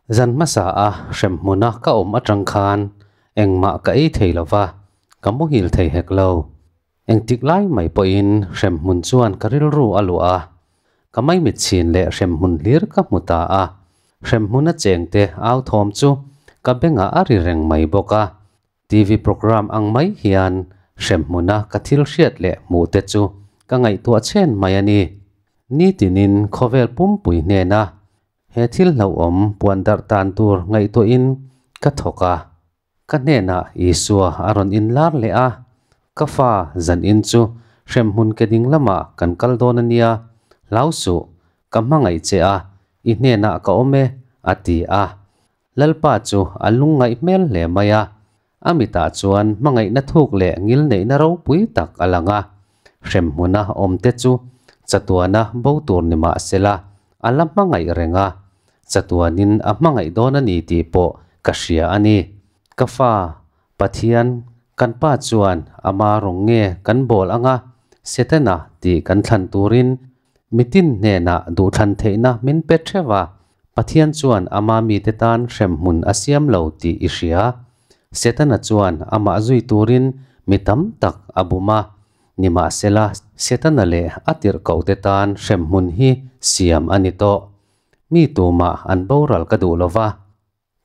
Zan hmasa a hrem hmuna ka awm atang khan engmah ka ei thei lo va, ka muhil thei hek lo. Engtik lai mai pawhin hrem hmun chuan ka rilru a luah a, ka mai mit chhin leh hrem hmun hlir ka hmu ta a. Hrem hmuna chengte authawm chu ka bengah a ri reng mai bawk a, TV programme ang mai hian hremhmuna ka thil hriat leh hmuh te chu ka ngaihtuah chhen mai a ni. Ni tinin khawvel pumpui hnena he thil hlauhawm puan darh tan tur ngaihtuahin ka thawk a. Ka hnenah Isua a rawn inlar leh a, Ka Fa, zan in chu hremhmun ke ding lama kan kal dawn a nia, hlau suh, ka hmangaih che a, i hnenah ka awm e, a ti a. Lalpa chu a lung ngaih hmel hle mai a, a mitah chuan hmangaihna thuk leh ngil neihna ropui tak a lang a. Hremhmuna awmte chu chatuana bo tur ni mah sela, a la hmangaih reng a. Chatuanin a hmangaih dawn a ni tih pawh ka hria a ni. Ka fa, Pathian, kan pa chuan ama rawng nge kan bawl anga Setana tih kan thlan turin mitin hnenah duhthlan theihna min pe theuh a, Pathian chuan amah mite tan hremhmun a siam lo tih i hria. Setana chuan amah zui turin mi tam tak a bum a, nimahsela, Setana leh a tirhkohte tan hremhmun hi siam a ni tawh. Mi tumah an boral ka duh lo va.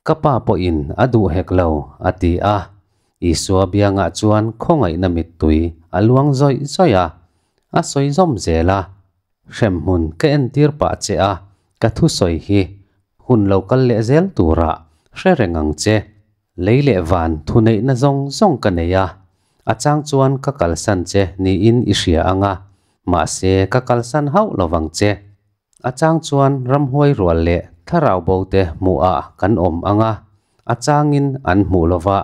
Ka pa pawhin a duh hek lo, a ti a. Isua biangah chuan khawngaihna mittui a luang zawih zawih a, a sawi zawm zel a. Hremhmun ka entir pah che a, ka thusawi hi hun lo kal leh zel turah hre reng ang che. Lei leh van thuneihna zawng zawng ka nei a, a chang chuan ka kalsan che niin i hria ang a, mahse ka kalsan hauh lovang che. A chang chuan ramhuai rual leh thlarau bo te hmuhah kan awm ang a, a changin an hmuh lo va.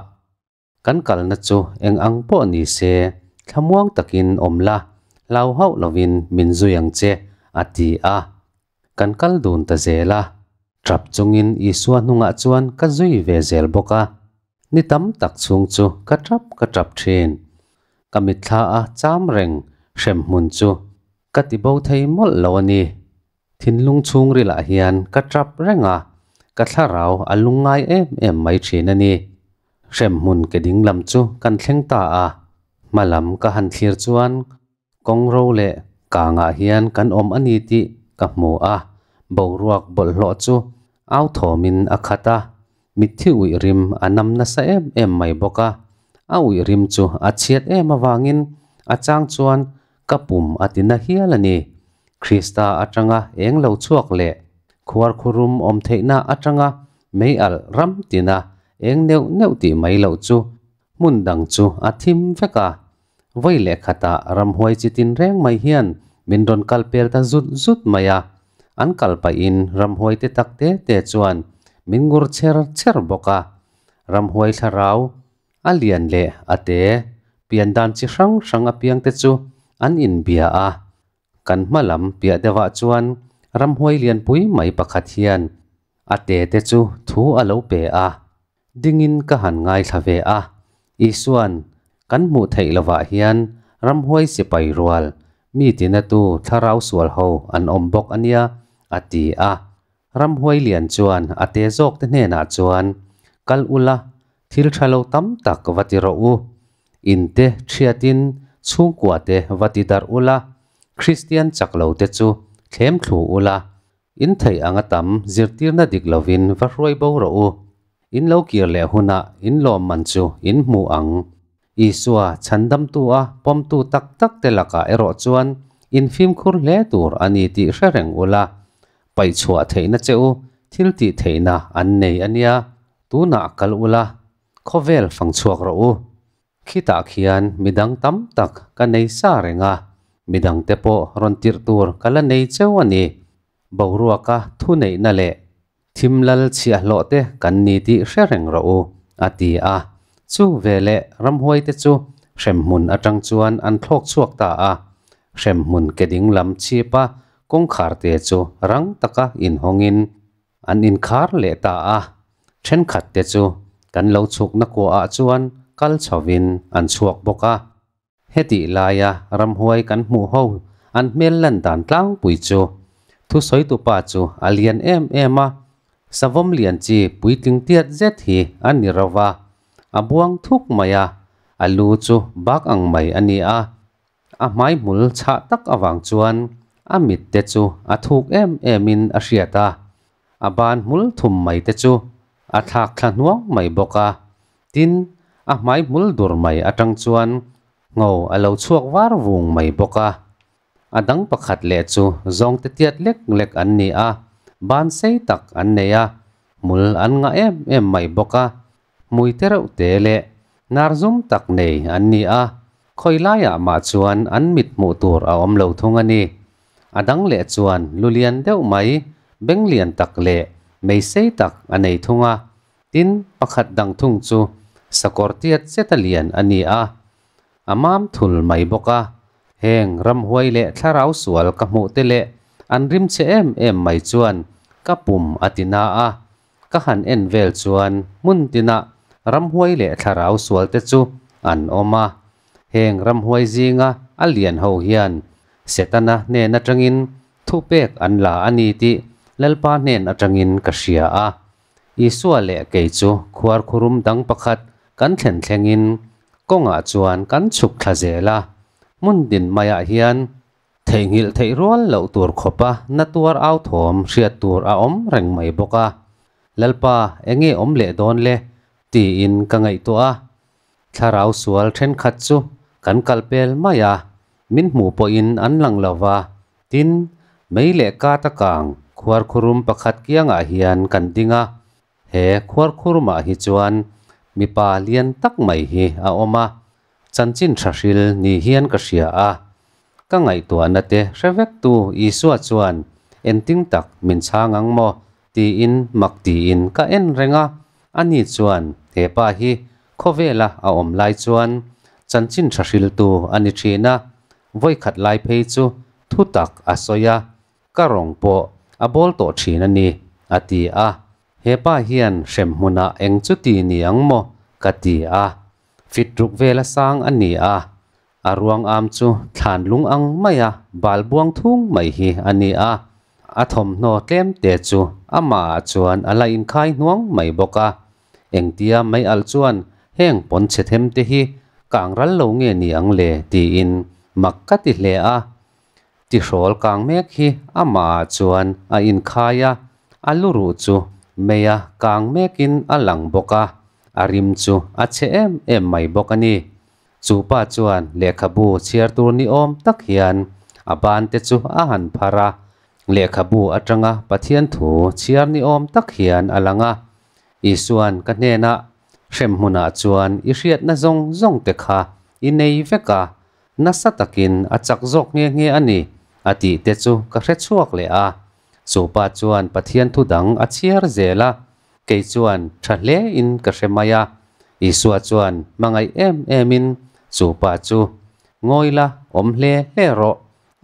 Kan kalna chu eng ang pawh ni se, thlamuang takin awm la, hlau hauh lovin min zui ang che, a ti a. Kan kal dun ta zel a. Ṭap chungin Isua hnungah chuan ka zui ve zel bawk a, ni tam tak chhung chu ka ṭap ka ṭap ṭhin. Ka mitthla a châm reng hrem hmun chu ka ti bo thei mawlh lo a ni. Thinlung chhungrilah hian ka ṭap reng a, ka thlarau a lung ngai em em mai ṭhin a ni. Hrem hmun ke dinglam chu kan thleng ta a, hmalam ka han thlir chuan Kawng ro leh kangah hian kan awm a ni tih ka hmu a, boruak bawlhhlawh chu au thawmin a khat a, mitthi uih rim a nam nasa em em mai bawk a, a uih rim chu a chhiat em avangin a chang chuan ka pum a ti na hial a ni. Krista atanga eng lo chhuak leh khuar khurum awm theihna atanga mei alh ram tina eng neuh neuh tih mai loh chu Hmun dang chu a thim vek a, vawi leh khata ramhuai chi tin reng mai hian min rawn kal pel ta zut zut mai a, an kal pahin ramhuai te tak te te chuan min ngur chher chher bawk a, ramhuai thlarau a lian leh a te pian dan chi hrang hrang apiang te chu an inbia a, kan hma lam piah deuhah chuan ramhuai lianpui mai pakhat hian a te te chu thu a lo pe a. Dingin ka han ngaithla ve a, Isua'n kan hmuh theih lovah hian ramhuai sipai rual, mi tinatu thlarau sual ho an awm bawk a nia, a ti a. Ramhuai lian chuan a te zawkte hnenah chuan, Kal ula, thil tha lo tam tak va ti rawh u. Inte ṭhiatin chhungkuate va ti darh ula, Kristian chak lote chu thlem thlu ula, In theih anga tam zirtirna dik lovin va hruai bo rawh u. In lo kir leh hunah in lawmman chu in hmu ang. Isua chhandamtu a pawmtu tak takte lakah erawh chuan in fimkhur hle tur a ni tih hre reng ula, paihchhuah theihna che u, thil tih theihna an nei ania tunah kal ula, khawvel fangchhuak rawh u. Khitah khian midang tam tak ka nei sa reng a, midang te pawh rawn tirh tur ka la nei cheu a ni. Boruaka thuneihna leh thim lal chhiahhlawh te kan ni tih hre reng rawh u, a ti a. Chu ve leh ramhuai te chu hrem hmun atang chuan an thlawk chhuak ta a, hrem hmun ke dinglam chhipa kawngkhar te chu rang taka inhawngin An inkhar leh ta a, thenkhat te chu kan lo chhukna kuahah chuan kal chhovin an chhuak bawk a. Hetih laia ramhuai kan hmuh ho an hmel lan dan tlangpui chu thusawitu pa chu a lian em em a, savawm lian chi puitling tiat zet hi a ni rova, a buang thuk mai a, a lu chu bak ang mai a ni a, A hmaihmul chhah tak avang chuan a mitte chu a thuk em emin a hriat a, a ban hmul thum mai te chu a thlak thla hnuang mai bawk a. Tin, a hmaihmul dur mai atang chuan ngo a lo chhuak var vung mai bawk a. A dang pakhat leh chu zawngte tiat lek lek an ni a, ban sei tak an nei a, hmul an ngah em em mai bawk a, Muite reuh te leh nar zum tak nei an ni a, khawi laiah mah chuan an mit hmuh tur a awm lo thung a ni. A dang leh chuan lu lian deuh mai, beng lian tak leh meisei tak a nei thung a, tin, pakhat dang thung chu sakawr tiat cheta lian a ni a, a mam thul mai bawk a. Heng ramhuai leh thlarau sual ka hmuh te leh an rim che em em mai chuan ka pum a ti na a, Ka han en vel chuan hmun tinah ramhuai leh thlarau sual te chu an awm a. Heng ramhuai zinga a lian ho hian Setana hnen atangin thu pek an la a ni tih Lalpa hnen atangin ka hria a. Isua leh kei chu khuar khurum dang pakhat kan thlen thlengin kawngah chuan kan chhuk thla zel a. Hmun tin maiah hian Theihnghilh theih rual loh tur khawpa na tuar au thawm hriat tur a awm reng mai bawk a, Lalpa eng nge awm leh dawn le? tiin ka ngaihtuah a, thlarau sual thenkhat chu kan kal pel mai a, min hmuh pawhin an lang lo va, tin, mei leh kata kang khuar khurum pakhat kiangah hian kan ding a, He khuar khur mah hi chuan mipa lian tak mai hi a awm a, chanchin tha hril ni hian ka hria a. Ka ngaihtuahna te hre vek tu Isua chuan engting tak min chhang ang maw tiin mak tiin ka en reng a, ani chuan he pa hi khawvela a awm lai chuan chanchin tha hriltu a ni thin a, vawikhat lai phei chu thu tak a sawi a, Ka rawng pawh a bawl tawh thin a ni, a ti a. Hepa hian hrem hmuna eng chuti ni ang maw? ka ti a. Fit ruk vel a sang a ni a. A ruangam chu thlan lung ang mai a, bal buang thung mai hi a ni a. A thawmhnaw tlem te chu amahah chuan a la inkhai hnuang mai bawk a. Engtia mai alh chuan heng pawn chhe them te hi kang ral lo nge ni ang le tiin mak ka ti hle a. Ti hrawl kang mek hi amahah chuan a inkhai a, a lu ruh chu meia kang mekin a lang bawk a, a rim chu a chhe em em mai bawk a ni. Chu pa chuan lehkhabu chhiar tur ni awm tak hian a ban te chu a han phar a, lehkhabu atanga Pathian thu chhiar ni awm tak hian a lang a. Isua'n ka hnenah, Hrem hmunah chuan i hriatna zawng zawng te kha i nei vek a, Nasa takin a chak zawk nghe nghe a ni, a tih te chu ka hre chhuak leh a. Chupa chuan Pathian thu dang a chhiar zel a, kei chuan tha hle in ka hre mai a. Isua chuan hmangaih em em in chupa chu, Ngawi la, awm hle hle rawh,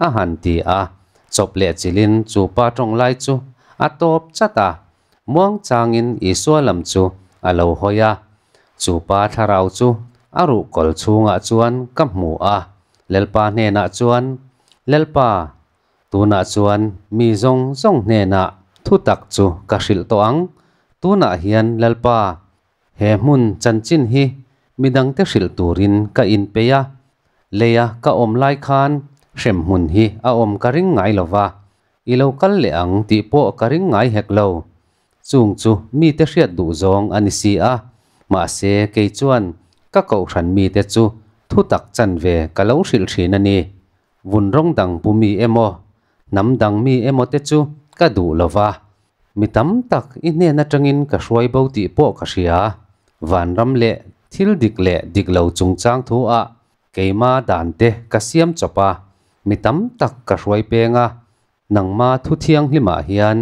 a han ti a. Chawp leh chil in chupa tawng lai chu a tawp chat a. Muangchangin Isua lam chu a lo hawi a, chu pa thlarau chu a ruh kawl chhungah chuan ka hmu a, Lalpa hnenah chuan, Lalpa, tunah chuan mi zawng zawng hnenah thutak chu ka hrilh tawh ang, tunah hian Lalpa, he hmun chanchin hi mi dangte hrilh turin ka inpeih a, leia ka awm lai khan hrem hmun hi a awm ka ring ngai lova, I lo kal leh ang tih pawh ka ring ngai hek lo. Chung chu mite hriat duh zawng a ni si a, mahse kei chuan ka kohhran mite chu thu tak chan ve ka lo hrilh thin a ni. Vun rawng dang pu mi emaw, hnam dang mi emaw te chu ka duh lo va, mi tam tak i hnen atangin ka hruai bo tih pawh ka hria. Vanram leh thil dik leh dik lo chungchang thu ah Keima dan te ka siam chawp a, mi tam tak ka hruai peng a, nangma thu thianghlimah hian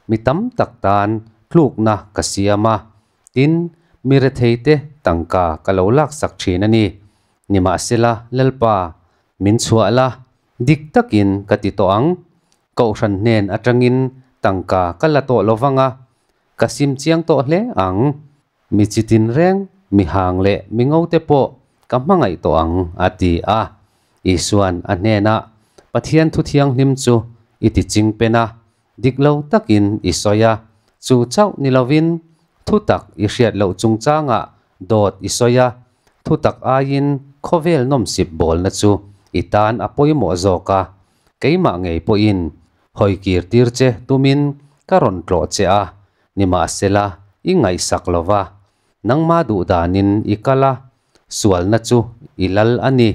mi tam tak tan tlukna ka siam a, tin, mi rethei te tangka ka lo laksak thin a ni. Nimahsela, Lalpa, min chhuah la, dik takin ka ti tawh ang. Kohhran hnen atangin tangka ka la tawh lo vang a, ka sim chiang tawh hle ang, Mi chi tin reng, mi hang leh mi ngote pawh ka hmangaih tawh ang, a ti a. Isua'n a hnenah, Pathian Thu Thianghlim chu i tiching pen a, dik lo takin i sawi a, chu chauh ni lovin thutak i hriat loh chungchangah dawt i sawi a, thutak aiin khawvel nawmsip bawlna chu i tan a pawimawh zawk a, keimah ngei pawhin hawi kirtir che tumin ka rawn tlawh che a. nimahsela i ngaihsak lo va, nangma duh danin i kal a, sualna chu i lal a ni.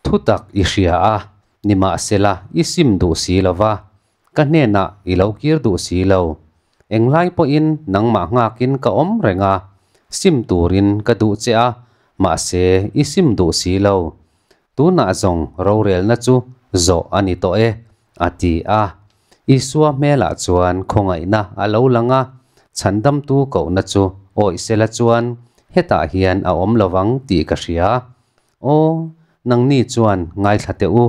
Thutak i hria a, nimahsela i sim duh si lo va, ka hnenah i lo kir duh si lo. Enghlai pawhin nangmah nghakin ka awm reng a, sim turin ka duh che a, mahse i sim duh si lo. Tunah zawng rorelna chu zawh a ni tawh e, a ti a. Isua hmelah chuan khawngaihna a lo lang a, chhandamtu kohna chu awih sela chuan hetah hian a awm lo vang tih ka hria. Aw, nangni chuan ngaithla teh u.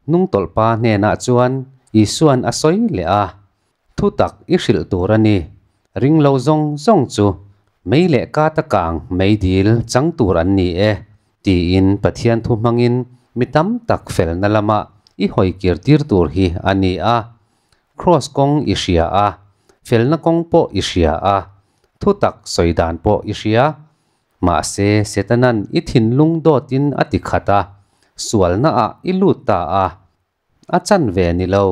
Hnungtawlhpa hnenah chuan Isua'n a sawi leh a, Thu tak i hrilh tur a ni. Ring lo zawng zawng chu mei leh kat a kang mei dil chang tur an ni e, tiin Pathian thu hmangin mi tam tak felna lama i hawi kir tir tur hi a ni a. Kraws kawng i hria a, felna kawng pawh i hria a, thu tak sawi dan pawh i hria. Mahse, Setana'n i thinlung dawtin a ti khat a, sualnaah i lut ta a, A chan ve ni lo,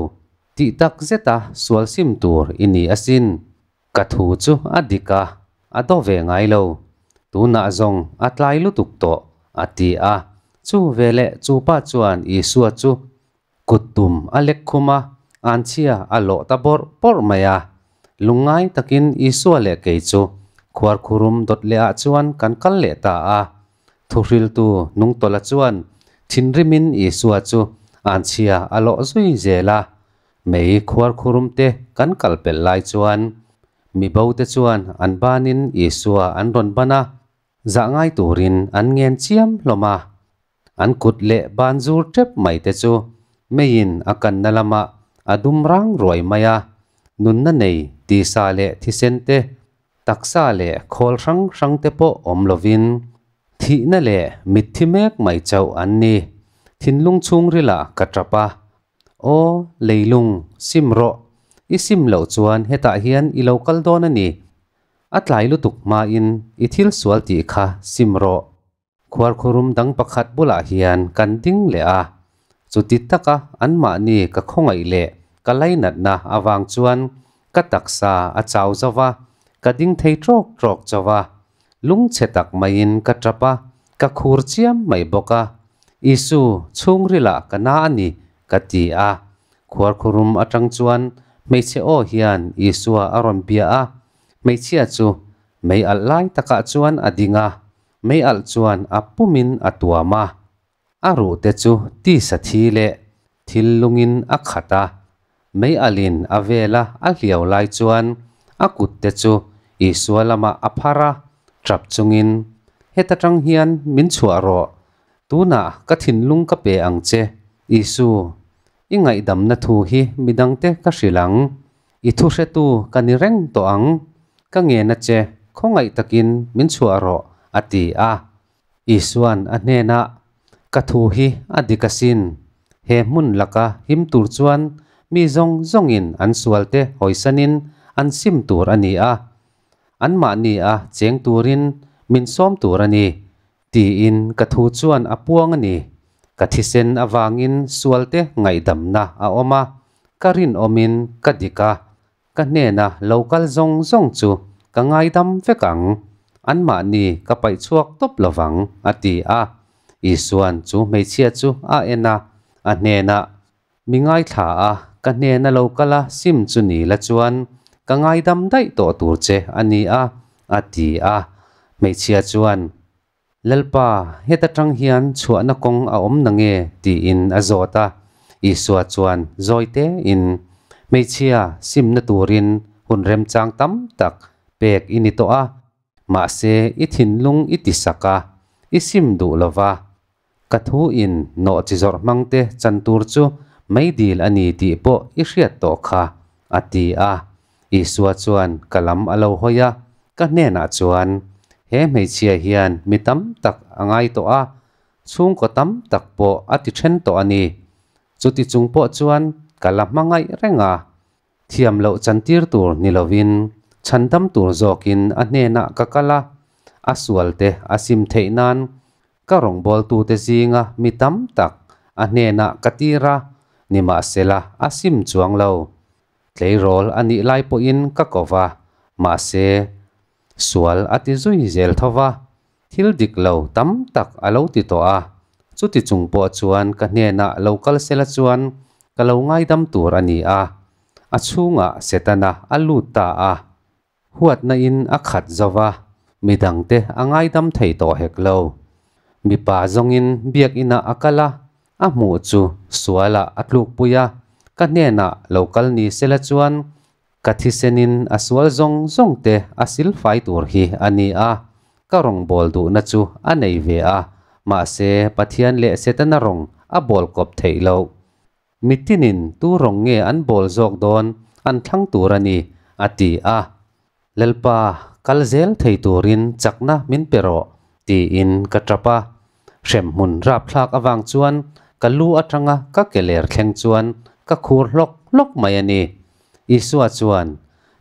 tih tak zeta sual sim tur i ni asin. Ka thu chu a dik a, a daw ve ngai lo. Tunah zawng a tlai lutuk tawh, a ti a. Chu ve leh chu pa chuan Isua chu kut tum a lek khum a, an chhia a lawh ta bawrh bawrh mai a. Lung ngai takin Isua leh kei chu khuar khurum dawt leh ah chuan kan kal leh ta a. Thuhriltu Nungtawla chuan thinrimin Isua chu an chhia a lawh zui zel a, mei khuar khurum te kan kal pel lai chuan mi bo te chuan an banin Isua an rawn ban a, zah ngai turin an ngen chiam hlawm a. An kut leh ban zur tep mai te chu meiin a kanna lamah a dum rang ruai mai a, nunna nei tisa leh thisen te Taksa leh khawl hrang hrang te pawh awm lovin thihna leh mitthi mek mai chauh an ni. Thinlung chhungrila ka tap a, Aw leilung, sim rawh. I sim loh chuan hetah hian i lo kal dawn a ni. A tlai lutuk hmain i thil sual tih kha sim rawh. Khuarkhurum dang pakhat bulah hian kan ding leh a, chuti taka anmahni ka khawngaih leh ka lainatna avang chuan ka taksa a chau zo va, ka ding thei trawk trawk cho va, lung chhe tak maiin ka tap a, ka khur chiam mai bawk a, Isu chhungrila ka na a ni ka ti a. Khuarkhurum atang chuan hmeichhe aw hian Isua a rawn bia a, hmeichhia chu mei alh lai takah chuan a ding a, Meialh chuan a pumin a tuam a, a ruhte chu tisa thi leh thil lungin a khat a. Meialhin a vela a hliau lai chuan a kutte chu Isua lamah a phar a, ṭap chungin, Heta ṭang hian min chhuah rawh, tunah ka thinlung ka pe ang che. Isu, i ngaihdamna thu hi midangte ka hrilh ang, I thuhretu ka ni reng tawh ang, ka ngen a che, khawngaih takin min chhuah rawh, a ti a. Isua'n a hnenah, Ka thu hi a dik asin. He hmun laka him tur chuan mi zawng zawngin an sualte hawisanin an sim tur a ni a. Anmahni a cheng turin min sawm tur a ni. Tiin ka thu chuan a puang a ni. Ka thisen avangin sualte ngaihdamna a awm a, ka rinawmin ka dik a, ka hnena lo kal zawng zawng chu ka ngaidam vek ang. Anmahni ka paih chhuak tawp lovang, a ti a. Isua'n chu hmeichhia chu a en a, a hnenah Mi ngaithla a ka hnen a lo kal a, Sim chu ni la chuan ka ngaidam daih tawh tur che a ni a, a ti a. Hmeichhia chuan, Lalpa, heta tang hian chhuahna kawng a awm na nge? tiin a zawt a. Isua chuan zawite in, Hmeichhia, simna turin hun remchang tam tak pek i ni tawh a, Mahse i thinlung i ti sak a, i sim duh lo va, ka thu in nawh chi zawrh hmang te chan tur chu meidil a ni tih pawh i hriat tawh kha, a ti a. Isua chuan ka lam a lo hawi a, ka hnenah chuan, He hmeichhia hian mi tam tak a ngai tawh a, chhungkaw tam tak pawh a ti then tawh a ni. Chuti chung pawh chuan ka la hmangaih reng a, Thiam loh chantir tur ni lovin, chhan dam tur zawkin a hnenah ka kal a, a sualte a sim theih nan ka rawngbawltute zinga mi tam tak a hnenah ka tir a, nimahsela a sim chuang lo. Tleirawl a nih lai pawhin ka ko va, mahse, sual a ti zui zel tho va. Thil dik lo tam tak a lo ti tawh a, chuti chung pawh chuan ka hnenah lo kal sela chuan ka lo ngaidam tur a ni a. A chhungah setana a lut ta a, huatnain a khat zo va, midangte a ngaidam thei tawh hek lo. Mipa zawngin Biakinah a kal a, a hmuh chu sualah a tlukpui a, ka hnenah lo kal ni sela chuan Ka thisenin a sual zawng zawng te a silfai tur hi a ni a, ka rawngbâwl duhna chu a nei ve a, mahse Pathian leh Setana rawng a bâwl kawp theih lo. Mitinin tu rawng nge an bâwl zawk dâwn an thlang tur a ni, a ti a. Lalpa, kal zêl thei turin chakna min pe rawh, tiin ka ṭap a. Hrem hmun rap thlak avang chuan ka lu atanga ka ke ler thleng chuan ka khur hlawk hlawk mai a ni. Isua chuan,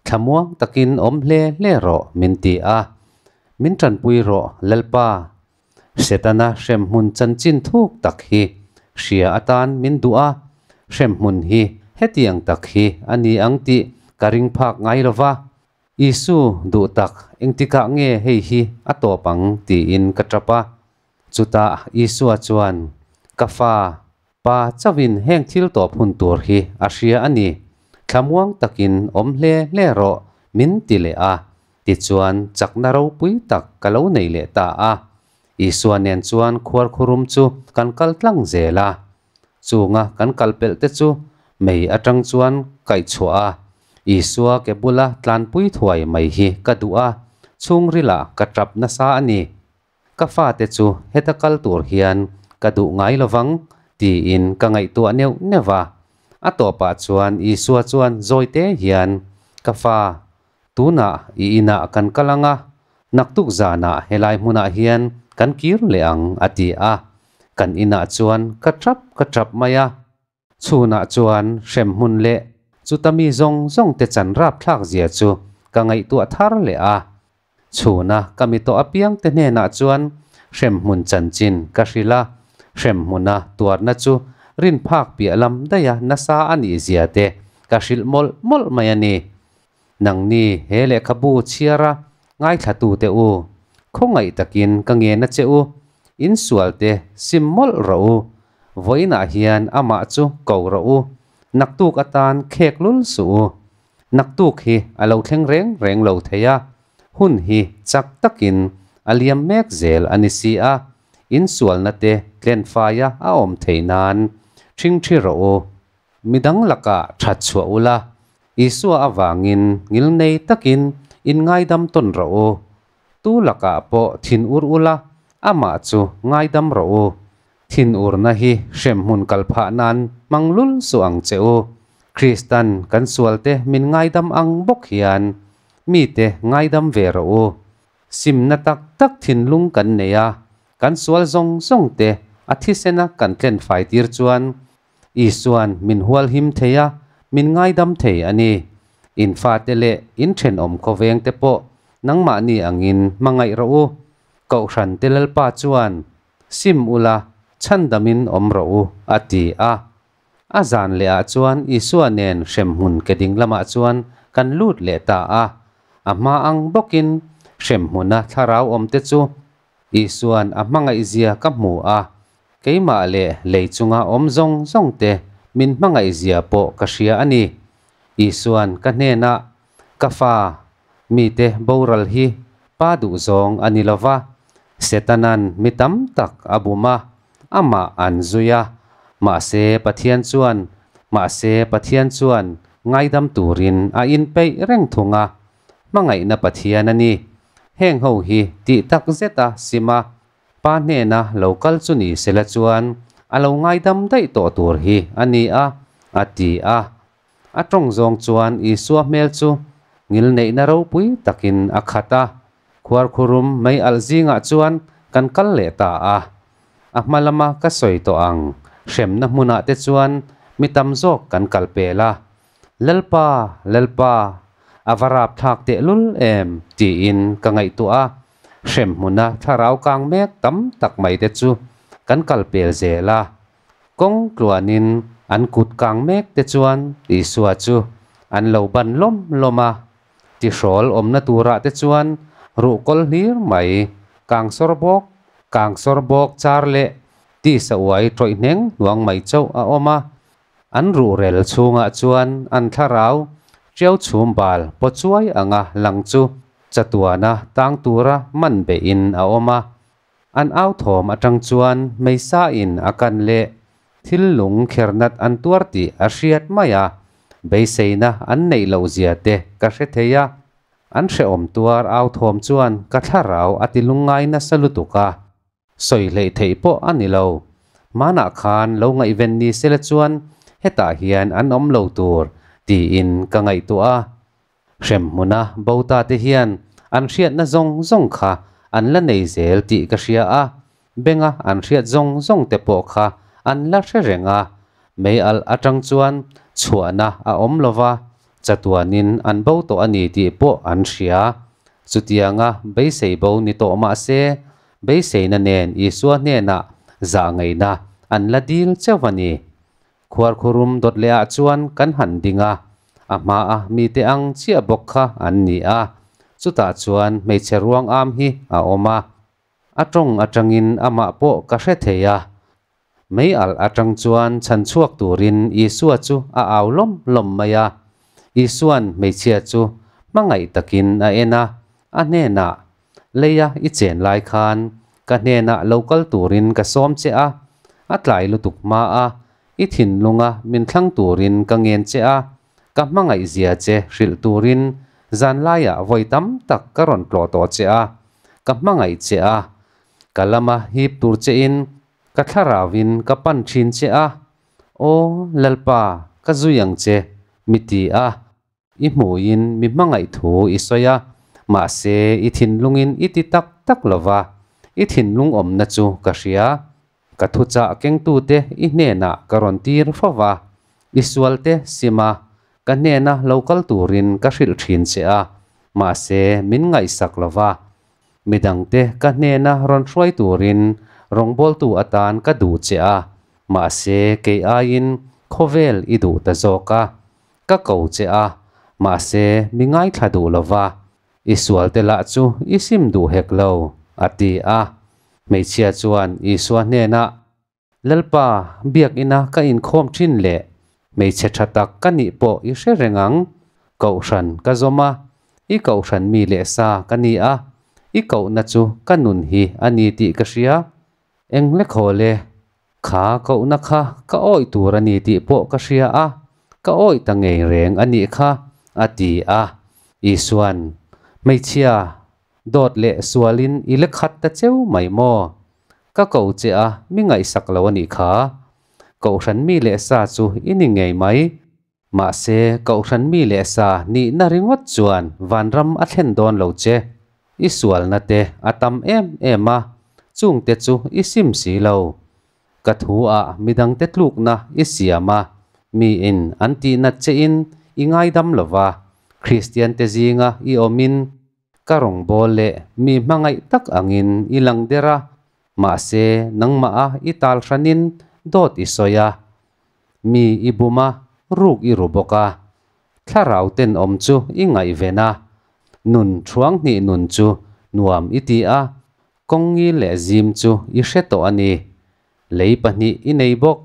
Thlamuang takin awm hle hle rawh min ti a. Min tanpui rawh Lalpa. Setana hrem hmun chanchin thuk tak hi hria atan min duh a, hrem hmun hi hetiang tak hi a ni ang tih ka ring phak ngai lova. Isu, duh tak, engtikah nge hei hi a tawp ang? tiin ka ṭap a. Chutah Isua chuan, Ka Fa, Pa chauhin heng thil tawp hun tur hi a hria a ni. Thlamuang takin awm hle hle rawh, min ti leh a, tichuan chakna ropui tak ka lo nei leh ta a. Isua nen chuan khuar khurum chu kan kal tlang zel a, Chunga kan kal pelh te chu mei atang chuan kaih chhuah a, Isua ke bula tlanpui thuai mai hi ka duh a, chhungrila ka tap nasa a ni. Ka fate chu heta kal tur hian ka duh ngai lovang tiin ka ngaihtuah neuh neuh a. A tawpah chuan Isua chuan zawite hian, Ka fa, Tunah i inah kan kal ang a, naktuk zanah helai hmunah hian kan kir leh ang, a ti a. Kan inah chuan ka ṭap ka ṭap mai a. Chhunah chuan hremhmun leh chuta mi zawng zawng te chan rap thlak zia chu ka ngaihtuah thar leh a. Chhuna ka mi tawh apiang te hnenah chuan hremhmun chanchin ka hrilh a, hremhmuna tuarna chu rinphak piah lam daih a nasa a nih zia te ka hrilh mawlh mawlh mai a ni. Nangni he lehkhabu chhiar a ngaithlatu teh u, khawngaih takin ka ngena che u, insual te sim mawlh rawh u, vawiinah hian amah chu ko rawh u, naktuk atan khek lul suh u. Naktuk hi a lo thleng reng reng lo thei a, hun hi chak takin a liam mek zel a ni si a, insualna te tlenfaia a awm thei nan, thringthi rawh u. mi dang lakah that chhuah u la, Isua avangin ngil ngei takin inngaidam tawn rawh u. Tu lakah pawh thin ur u la, Amah chu ngaidam rawh u. Thin urna hi hremhmun kal phah nan hmang lul suh ang che u. Krista'n kan sualte min ngaidam ang bawk hian mite ngaidam ve rawh u. Simna tak tak thinlung kan nei a, kan sual zawng zawngte a thisena kan tlen fai tir chuan Isua'n min hualhim thei a, min ngaidam thei a ni. In fate leh in thenawm khawveng te pawh nangmahni angin hmangaih rawh u. Kohhran te Lalpa chuan, Sim ula, chhandamin awm rawh u, a ti a. A zan lehah chuan Isua nen hremhmun ke ding lamah chuan kan lut leh ta a. A hma ang bawkin hremhmuna thlarau awmte chu Isua'n a hmangaihzia ka hmu a, keimah leh lei chunga awm zawng zawngte min hmangaihzia pawh ka hria a ni. Isua'n ka hnena, Ka fa, mite boral hi pa duhzawng a ni lo va, Setana'n mi tam tak a bum a, amah an zui a, mahse Pathian chuan, mahse Pathian chuan ngaidam turin a inpeih reng thung a, Hmangaihna Pathian a ni. Heng ho hi tih tak zeta sim a, Pa hnena lo kal chu ni se la chuan a lo ngaidam daih tawh tur hi a ni a, a ti a. A tawng zawng chuan Isua hmel chu ngilneihna ropui takin a khat a. Khuarkhurum mei alh zingah chuan kan kal leh ta a. A hma lama ka sawi tawh ang, hremna hmunah te chuan mi tam zawk kan kal pel a, Lalpa, Lalpa, a va rap thlak tehlul em? tiin ka ngaihtuah a, hrem hmuna thlarau kang mek tam tak mai te chu kan kal pel zel a, kawng tluanin an kut kang mek te chuan Isua chu an lo ban lawm lawm a, ti hrawl awmna turah te chuan ruh kawl hlir mai, kang sawr bawk, kang sawr bawk char leh tisa uai tawih hneng hnuang mai chauh a awm a, An ruhrel chhungah chuan an thlarau ṭiau chhum bal paw chuai anga lang chu chatuana tang tura man behin a awm a. An authawm aṭang chuan meisain a kan leh thil lung khernat an tuar tih a hriat mai a, beiseina an neih loh zia te ka hre thei a, an hrehawm tuar authawm chuan ka thlarau a ti lungngai nasa lutuk a. Sawi hleih theih pawh a ni lo. Hmanah khan lo ngaihven ni sela chuan hetah hian an awm lo tur tiin ka ngaihtuah a. Hrem hmuna Bota te hian an hriatna zawng zawng kha an la nei zel tih ka hria a, benga an hriat zawng zawng te pawh kha an la hre reng a. Mei alh atang chuan chhuahna a awm lova, chatuanin an bo tawh a ni tih pawh an hria. Chutianga beisei bo ni tawh mahse, Beiseina nen Isua hnenah zah ngaihna an la dil chauh a ni. Khuarkhurum dawt lehah chuan kan han ding a, a hmaa mite ang chiah bawk kha an ni a, chutah chuan hmeichhe ruang âwm hi a awm a. A ṭawng aṭangin amah pawh ka hre thei a, Mei alh atang chuan chhan chhuak turin Isua chu a au lawm lawm mai a. Isua'n hmeichhia chu hmangaih takin a en a, a hnenah, Lei a i chen lai khan ka hnenah lo kal turin ka sawm che a, a tlai lutuk hma a, i thinlunga min thlang turin ka ngen che a, ka hmangaihzia che hrilh turin zanlaiah vawi tam tak ka rawn tlawh tawh che a, ka hmangaih che a, Ka lama hip tur chein ka thlarau in ka pan thin che a, Aw Lalpa, ka zui ang che, mi ti a, i hmuin mi hmangaih thu i sawi a, mahse i thinlungin i ti tak tak lova, i thinlung awmna chu ka hria, ka thuchah kengtute i hnenah ka rawn tir fo va, i sualte sima ka hnena lo kal turin ka hrilh thin che a, mahse min ngaihsak lova, Midangte ka hnena rawn hruai turin rawngbawltu atan ka duh che a, mahse kei aiin khawvel i duh ta zawk a, ka ko che a, mahse mi ngaithla duh lova i sualte lah chu i sim duh hek lo, a ti a. Hmeichhia chuan Isua hnena. Lalpa, biakina ka inkhawm ṭhin le, hmeichhe ṭha tak ka nih pawh i hre reng ang. Kohhran ka zawm a, i kohhran mi leh sa ka ni a, i kohna chu ka nun hi a ni tih ka hria. Eng hle khawl e, kha kohna kha ka awih tur a ni tih pawh ka hria a, ka awih ta ngei reng a nih kha, a ti a. Isua'n, Hmeichhia, Dawt leh sualin i le khat ta cheu mai maw? Ka ko che a, mi ngaihsak lo a nih kha. Kohhran mi leh sa chu i ni ngei mai. Mahse, Kohhran mi leh sa nihna ringawt chuan Vanram a thlen dawn lo che. I sualna te a tam em em a, chungte chu i sim si lo. Ka thu ah midang te tluk na i siam a, mi in an ti nat che in i ngai dam lo va, Kristian te zing a i awm in, ka rawngbâwl leh mi hmangaih tak ang in i lang der a, mahse nangmah a i tal hran in dawt i sawi a, mi i bum a, ruk i ru bawk a, thlarau ten awm chu i ngaihven a, nun thuang hnih nun chu nuam i ti a, Kawngi leh zim chu i hre tawh a ni. Lei pahnih i nei bawk.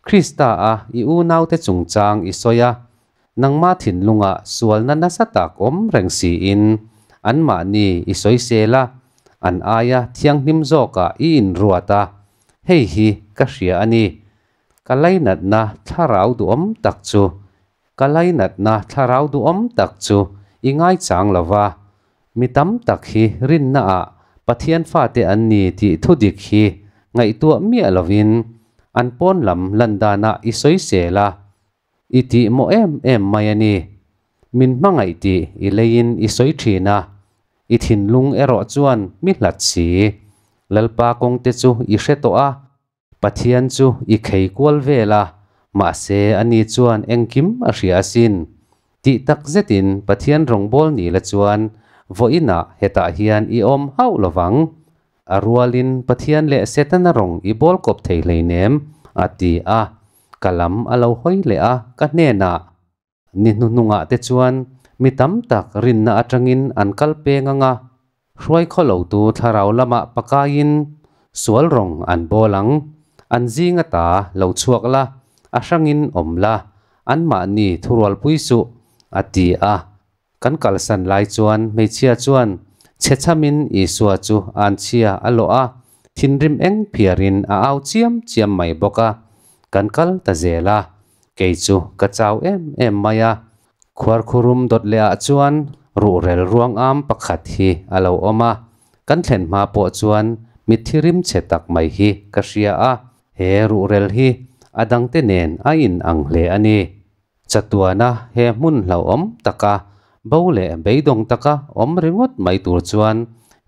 Krista a i unaute chungchang i sawi a, nangma thinlungah sualna nasa tak awm reng siin anmahni i sawisel a, an aia thianghlim zawkah i inruat a. Hei hi ka hria a ni. Ka lainatna thlarau duhawm tak chu Ka lainatna thlarau duhawm tak chu i ngaichang lo va, mi tam tak hi rinna ah Pathian fate an ni tih thu dik hi ngaihtuah miah lovin an pawn lam lan danah i sawisel a, i tih maw em em mai a ni. Min hmangaih tih i leiin i sawi thin a, i thinlung erawh chuan mi hlat si. Lalpa kawngte chu i hre tawh a. Pathian chu i khei kual vel a, mahse ani chuan engkim a hria asin. Tih tak zetin Pathian rawngbâwl ni la chuan vawiinah hetah hian i awm hauh lo vang. A rualin Pathian leh Setana rawng i bâwlkawp thei hleinem, a ti a. Ka lam a lo hawi leh a, ka hnenah. Ni hnuhnungah te chuan mi tam tak rinna atangin an kal pe ngang a, hruai khaw lotu thlarau lama pakaiin sual rawng an bawl ang, an zinga ta lo chhuak la, a hrangin awm la, anmahni thurualpui suh, a ti a. Kan kalsan lai chuan hmeichhia chuan chhechamin Isua chu an chhia a lawh a, thinrim eng phiarin a au chiam chiam mai bawk a, kan kal ta zel a, kei chu ka chau em em mai a. Khuarkhurum dawt lehah chuan ruhrel ruangam pakhat hi a lo awm a, kan thlen hma pawh chuan mitthi rimchhe tak mai hi ka hria a, he ruhrel hi a dangte nen a in ang hle a ni. Chatuana he hmun hlauhawm taka, bo leh beidawng taka awm ringawt mai tur chuan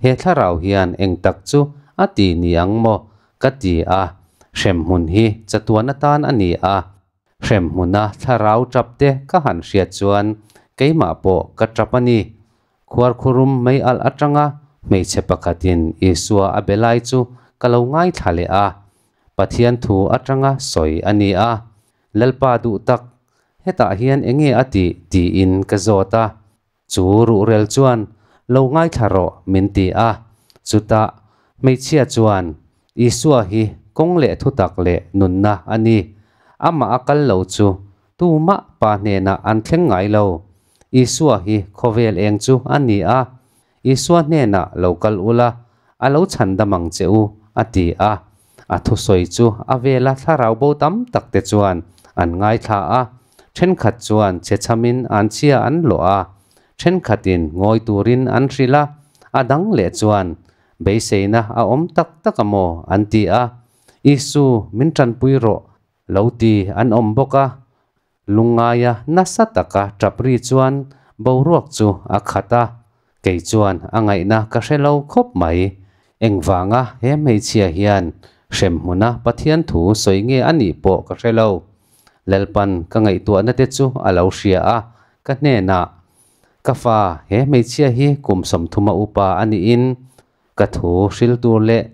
he thlarau hian eng tak chu a ti ni ang maw ka ti a, hrem hmun hi chatuana tan a ni a, hrem hmuna thlarau tap te ka han hriat chuan keimah pawh ka tap a ni. Khuar khurum mai alh atanga hmeichhe pakhatin Isua a be lai chu ka lo ngaithla leh a, Pathian thu atanga sawi a ni a, Lalpa duh tak, hetah hian eng nge a ti? tiin ka zawt a, chu ruhrel chuan lo ngaithla rawh min ti a, chutah hmeichhia chuan Isua hi kawng leh thutak leh nunna a ni, amah a kal lo chu tu mah pa hnenah an thleng ngai lo, Isua hi khawvel eng chu a ni a, Isua hnenah lo kal ula, a lo chhan dam ang che u, a ti a. A thusawi chu a vela thlarau bo tam tak te chuan an ngaithla a, thenkhat chuan chhechhamin an chhia an lawh a, thenkhatin ngawi turin an hrilh a, a dang leh chuan, Beiseina a awm tak tak a maw? an ti a. Isu, Min tanpui rawh, lo ti an awm bawk a, Lungngaia nasa taka Tapri chuan boruak chu a khat a, kei chuan a ngaihna ka hre lo khawp mai. Engvanga he hmeichhia hian hrem hmuna Pathian thu sawi nge a nih pawh ka hre lo. Lalpan ka ngaihtuahna te chu a lo hria a, ka hnenah, Ka fa, he hmeichhia hi kum sawmthuma upa a niin ka thu hril tur leh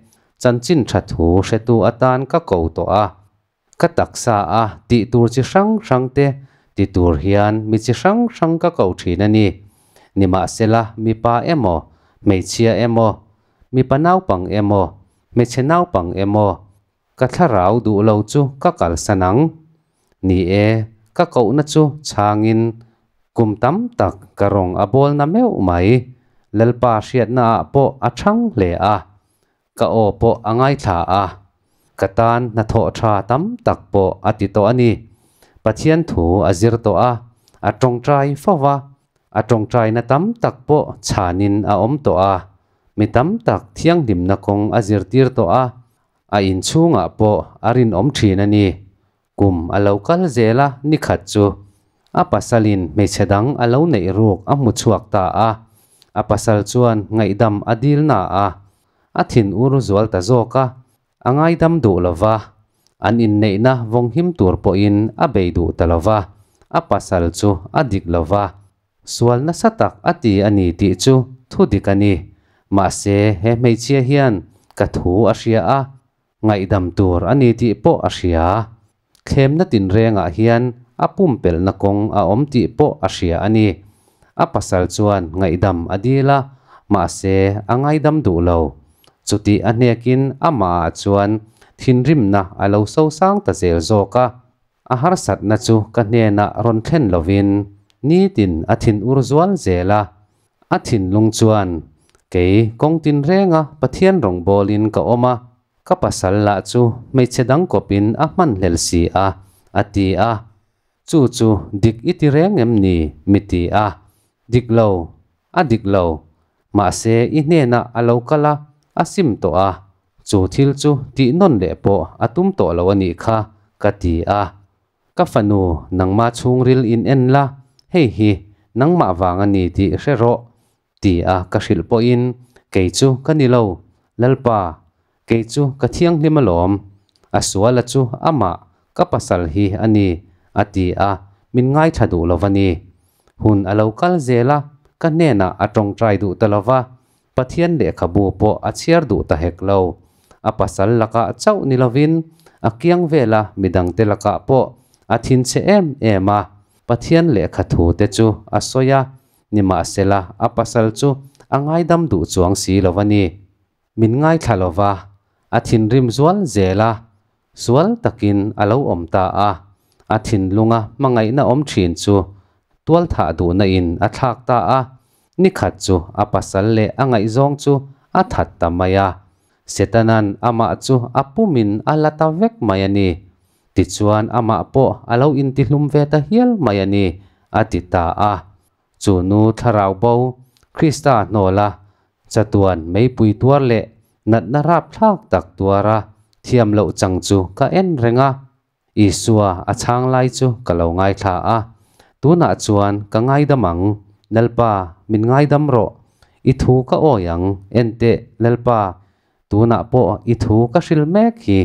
chanchin tha thu hretu atan ka ko tawh a. Ka taksa a, tih tur chi hrang hrang te ti tur hian mi chi hrang hrang ka ko thin a ni. Nimahsela mipa emaw, hmeichhia emaw, mipa naupang emaw, hmeichhe naupang emaw, ka thlarau duh lo chu ka kalsan ang. Ni e, ka kohna chu chhangin kum tam tak ka rawn a bawlna meuh mai. Lalpa hriatnaah pawh a chhang hle a, Ka aw pawh a ngaithla a, ka tan hna thawh tha tam tak pawh a ti tawh a ni. Pathian thu a zir tawh a, a tawngtai fo va, a tawngtaina tam tak pawh chhanin a awm tawh a, mi tam tak thianghlimna kawng a zirtir tawh a, a inchhungah pawh a rinawm thin a ni. Kum a lo kal zel a, ni khat chu a pasalin hmeichhe dang a lo neih ruk a hmu chhuak ta a. A pasal chuan ngaihdam a dil na a, a thin ur zual ta zawk a, a ngaidam duh lo va, an inneihna vawnghim tur pawhin a bei duh ta lo va, a pasal chu a dik lo va, sual nasa tak a ti a ni tih chu thu dik a ni. Mahse, he hmeichhia hian ka thu a hria a. ngaihdam tur a ni tih pawh a hria. Thlemna tinrengah hian a pumpelhna kawng a awm tih pawh a hria a ni. A pasal chuan ngaihdam a dil a, mahse a ngaidam duh lo. Chutih a hnekin amahah chuan thinrimna a lo sosang ta zel zawk a. A harsatna chu ka hnenah rawn thlen lovin nitin a thin ur zual zel a, A thinlung chuan, Kei kawng tinrênga Pathian rawngbâwlin ka awm a, ka pasal lah chu hmeichhe dang kawpin a hmanhlel si a, a ti a. Chu chu dik i ti rêng em ni? mi ti a. Dik lo, a dik lo. Mahse, i hnênah a lo kal a, a sim tawh a, chu thil chu tihnawn leh pawh a tum tawh lo a nih kha, ka ti a. Ka fanu, nangma chhungril in en la, hei hi nangmah vang a ni tih hre rawh, ti a ka hrilh pawhin, kei chu ka ni lo, Lalpa, kei chu ka thianghlim alawm, a suala chu amah ka pasal hi a ni, a ti a, min ngaithla duh lo va ni. Hun a lo kal zel a, ka hnenah a tawngtai duh ta lo va, Pathian lehkhabu pawh a chhiar duh ta hek lo. A pasal lakah chauh ni lovin, a kiang vela mi dangte lakah pawh a thin che em em a. Pathian lehkha thu te chu a sawi a, nimahsela, a pasal chu a ngaidam duh chuang si lo va ni. Min ngaithla lo va, a thinrim zual zel a, Sual takin a lo awm ta a, a thinlunga hmangaihna awm thin chu tual thah duhna in a thlak ta a, nikhat chu a pasal leh a ngaihzawng chu a that ta mai a, Setana'n amah chu a pum in a la ta vek mai a ni. Tichuan amah pawh a lo intihlum ve ta hial mai a ni, a ti ta a. Chu nu thlarau bo Krista hnawla chatuan meipui tuar leh natna rap thlak tak tuara thiam loh chang chu ka en reng a. Isua a chhang lai chu ka lo ngaithla a, tunah chuan ka ngaidam ang, Lalpa min ngaidam rawh, i thu ka awi ang, enteh Lalpa, Tunah pawh i thu ka hrilh mek hi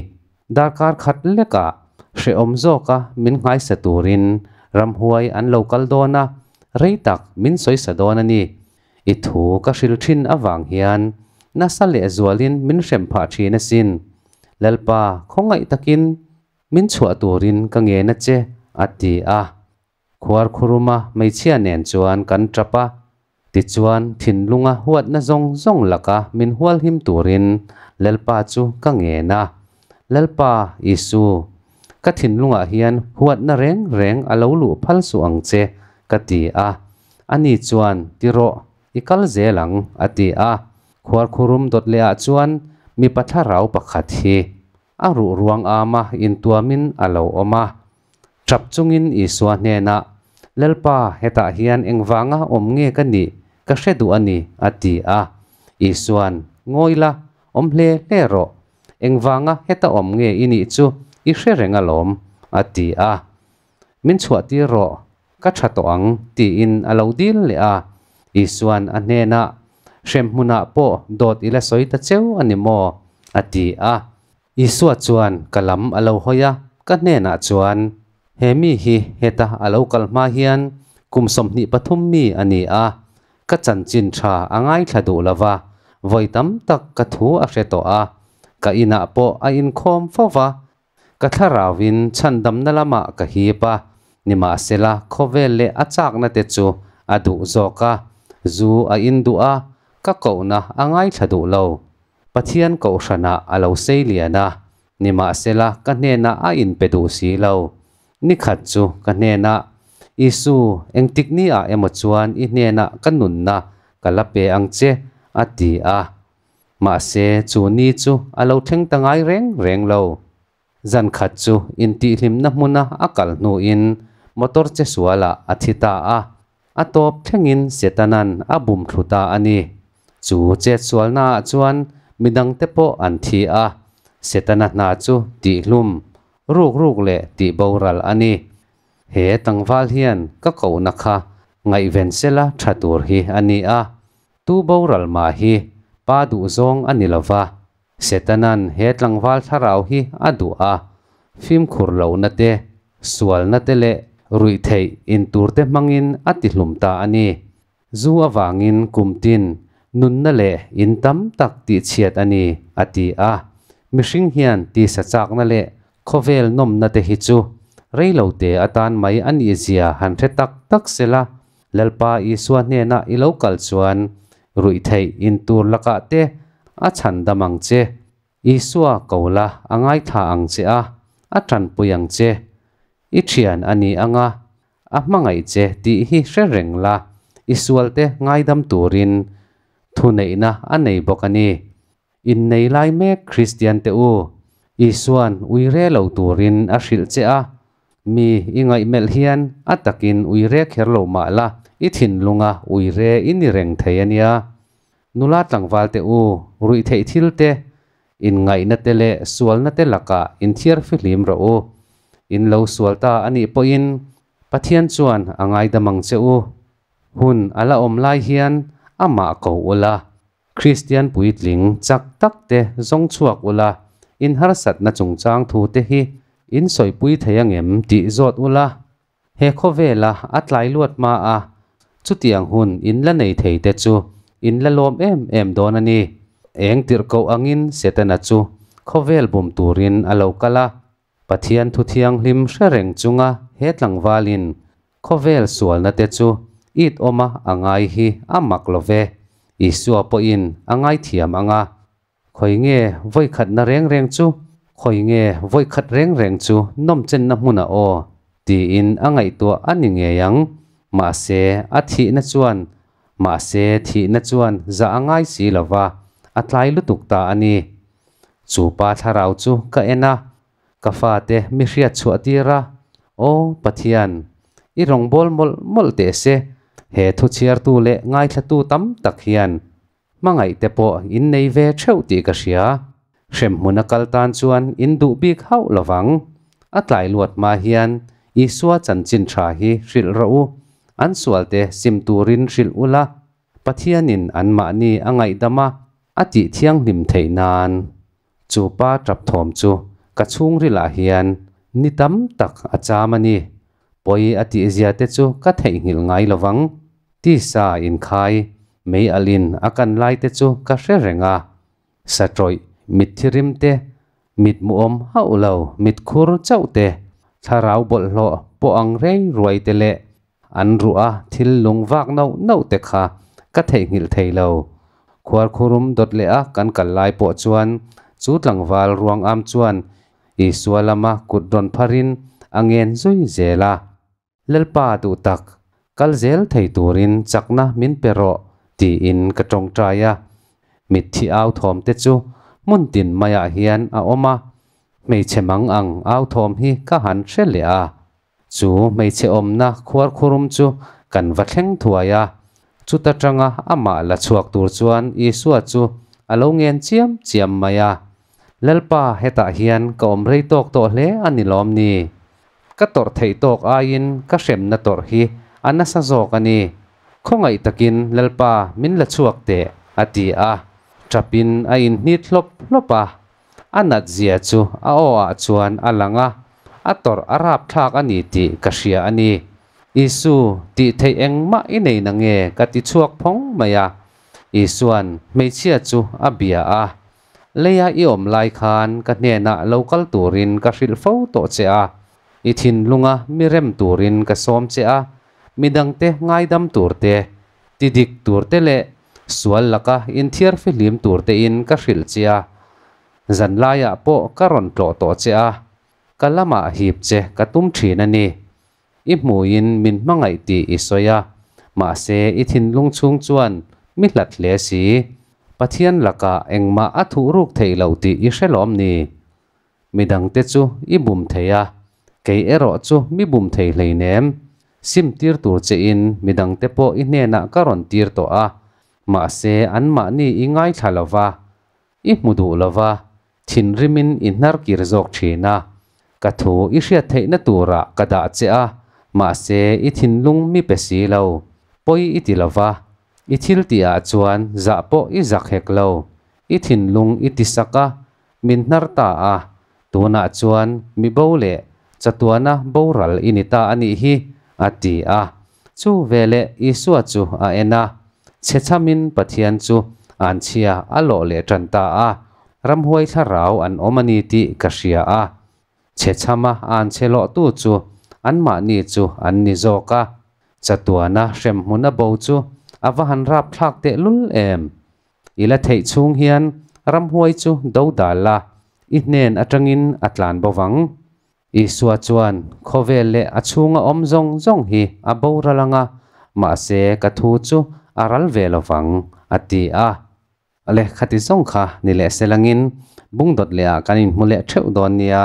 darkar khat lekah hrehawm zawka min ngaisa turin ramhuai an lo kal dawn a, rei tak min sawisa dawn a ni. I thu ka hrilh thin avang hian nasa leh zualin min hrem phah thin asin. Lalpa khawngaih takin min chhuah turin ka ngen a che, a ti a. Khuar khuruma hmeichhia nen chuan kan tap a, tichuan thinlunga huatna zawng zawng laka min hualhim turin Lalpa chu ka ngen a. Lalpa, Isu, ka thinlungah hian huatna reng reng a lo luh phal suh ang che, ka ti a. Ani chuan, Ti rawh, i kal zel ang, a ti a. Khuar khurum dawt lehah chuan mipa thlarau pakhat hi a ruh ruang âma intuamin a lo awm a. Chap chungin Isua hnena, Lalpa, hetah hian engvanga awm nge ka nih? Ka hre duh a ni, a ti a. Isua'n, Ngawi la, awm hle hle rawh. Engvanga heta awm nge i nih chu? I hre reng alawm, a ti a. Min chhuahtir rawh, ka tha tawh ang, tiin a lo dil leh a. Isua'n a hnena, Hrem hmunah pawh dawt i la sawi ta cheu a ni maw? a ti a. Isua chuan ka lam a lo hawi a, ka hnenah chuan, He mi hi heta a lo kal hma hian kum sawmhnih pathum mi a ni a, ka chanchin tha a ngaithla duh lo va, vawi tam tak ka thu a hre tawh a, ka inah pawh a inkhawm fo va. Ka thlarau in chhandamna lamah ka hip a, nimahsela khawvel leh a chakna te chu a duh zawk a, zu a in duh a, ka kohna a ngaithla duh lo. Pathian Kohhranah a lo seilian a, nimahsela ka hnena a inpe duh si lo. Nikhat chu ka hnena, Isu, engtikni-ah emaw chuan i hnenah ka nunna ka la pe ang che, a ti a. Mahse, chu ni chu a lo thleng ta ngai reng reng lo. Zan khat chu intihhlimna hmuna a kal hnuin motor che sualah a thi ta a, a tawp thlengin Setanan a bum thlu ta a ni. Chu chetsualnaah chuan midangte pawh an thi a. Setana hna chu tihhlum, ruk ruk leh tihboral a ni. He tlangval hian ka kohna kha ngaihven sela tha tur hi a ni a, tuboral mah hi pa duhzawng a ni lo va, Setana'n he tlangval thlarau hi a duh a, fimkhur lohna te, sualna te leh ruih theih in tur te hmangin a tihlum ta a ni. Zu avangin kum tin, nunna leh in tam tak tihchhiat a ni, a ti a. Mihring hian tisa chakna leh khawvel nawmna te hi chu rei lo te atan mai a nih zia han hre tak tak sela, Lalpa Isua hnenah i lo kal chuan ruih theih in tur lakah te a chhan dam ang che, Isua ko la a ngaithla ang che a, a tanpui ang che. I thian a ni anga a hmangaih che tih hi hre reng la, i sualte ngaidam turin thuneihna a nei bawk a ni. Innei lai mek Kristiante u Isua'n ui re lo turin a hrilh che a, mi i ngaih melh hian a takin ui re kher lo mah la, i thinlunga ui re i ni reng thei a nia. Nula tlangvalte u ruih theih thilte, inngainate leh sualnate lakah inthiarfi hlim rawh u. In lo sual ta a nih pawhin Pathian chuan a ngaidam ang che u. Hun a la awm lai hian amah ko ula, Kristian puitling chak tak te zawng chhuak ula inharsatna chungchang thu te hi in sawipui thei ang em tih zawt ula he khawvela a tlai luat hma a, chutiang hun in la nei thei te chu in la lawm em em dawn a ni. Eng tirh koh angin Setana chu khawvel bum turin a lo kal a, Pathian Thu Thianghlim hre reng chunga he tlangvalin khawvel sualnate chu it awma a ngai hi a mak lo ve. Isua pawhin a ngaithiam anga, Khawi nge vawikhatna reng reng chu, khawi nge vawikhat reng reng chu nawmchenna hmuna aw? tiin a ngaihtuah a ni ngei ang. Mahse, a thihna chuan Mahse, thihna chuan za a ngai si lo va, a tlai lutuk ta a ni. Chu pa thlarau chu ka en a, ka fate mi hriat chhuah tir a, O Pathian, i rawngbâwl mawlh mawlh teh se, he thuchhiartu leh ngaithlatu tam tak hian hmangaihte pawh in nei ve ṭheuh tih ka hria. Hremhmun a kal tan chuan in duh bik hauh lo vang. A tlai luat hma hian Isua chanchin tha hi hrilh rawh u, an sualte sim turin hrilh u la, Pathianin anmahni a ngaihdam a, a tih thianghlim theih nan. Chu pa ṭap thawm chu ka chhungrilah hian ni tam tak a cham a ni. Pawi a tihzia te chu ka theihnghilh ngai lo vang. Tisa inkhai, mei alh in a kan lai te chu ka hre reng a, Sa tawih, mit thirim te, mit muawm hauh lo, mit khur chauh te, thlarau bawlhhlawh pawh ang rei ruai te leh an ruh a thil lung vak nauh nauh te kha ka theihnghilh thei lo. Khuarkhurum dawt leh a kan kal lai pawh chuan chu tlangval ruang am chuan Isua lama kut rawn phar in a ngen zui zel a. Lalpa duh tak, kal zel thei turin chakna min pe rawh tiin ka tawngtai a. Mitthi authawm te chu hmun tin mai ah hian a awm a, hmeichhe mang ang authawm hi ka han hre leh a. Chu hmeichhe awmna khuarkhurum chu kan va thleng thuai a, chuta tanga amah la chhuak tur chuan Isua chu a lo ngen chiam chiam mai a. Lalpa hetah hian ka awm rei tawk tawh hle a ni lawm ni? Ka tawrh theih tawk aiin ka hremna tawrh hi a nasa zawk a ni. Khawngaih takin Lalpa min la chhuak teh a ti a, ṭapin a inhnit hlawp hlawp a. A natzia chu a aw ah chuan a lang a, a tawrh a rapthlak a ni tih ka hria a ni. Isu, tih theih engmah i nei na nge ka ti chhuak phawng mai a. Isuan hmeichhia chu a bia a, Leia i awm lai khan ka hnenah lo kal turin ka hrilh fo tawh che a, i thinlunga mi rem turin ka sawm che a, midangte ngaidam turte, ti dik turte leh sual laka inthiar fihlim turtein ka hrilh che a. Zanlaiah pawh ka rawn tlawh tawh che a, ka lamah hip che ka tum thin a ni. I hmuin min hmangaih tih i sawi a, mahse i thinlung chhung chuan mi hlat hle si. Pathian lakah engmah a thuh ruk theih loh tih i hre lawm ni? Mi dangte chu i bum thei a, kei erawh chu mi bum thei hleinem. Sim tir tur chein mi dangte pawh i hnenah ka rawn tir tawh a, mahse anmahni i ngaithla lova, I hmu duh lova thinrimin i hnarkir zawk thin a, ka thu i hriat theihna turah ka dah che a, mahse i thinlung mi pe si lo, pawi i ti lova, i thil tih ah chuan zah pawh i zak hek lo, i thinlung i tisak a, min hnar ta a, Tunah chuan mibo leh chatuana boral i ni ta a nih hi, a ti a. Chu veleh Isua chu a en a, chhechamin Pathian chu an chhia a lawh leh ṭan ta a, ramhuai thlarau an awm a ni tih ka hria a. Chhechama an chhe lawhtu chu anmahni chu an ni zawk a, chatuana hremhmun a bo chu a va han rap thlak tehlul em! I la theih chhung hian Ramhuai chu do dal la, i hnen atangin a tlan bo vang. Isua chuan, Khawvel leh a chhunga awm zawng zawng hi a boral ang a, mahse ka thu chu a ral ve lo vang, a ti a. Lehkha ti zawng kha ni leh se langin Bungdawt lehah kan inhmu leh theuh dawn nia.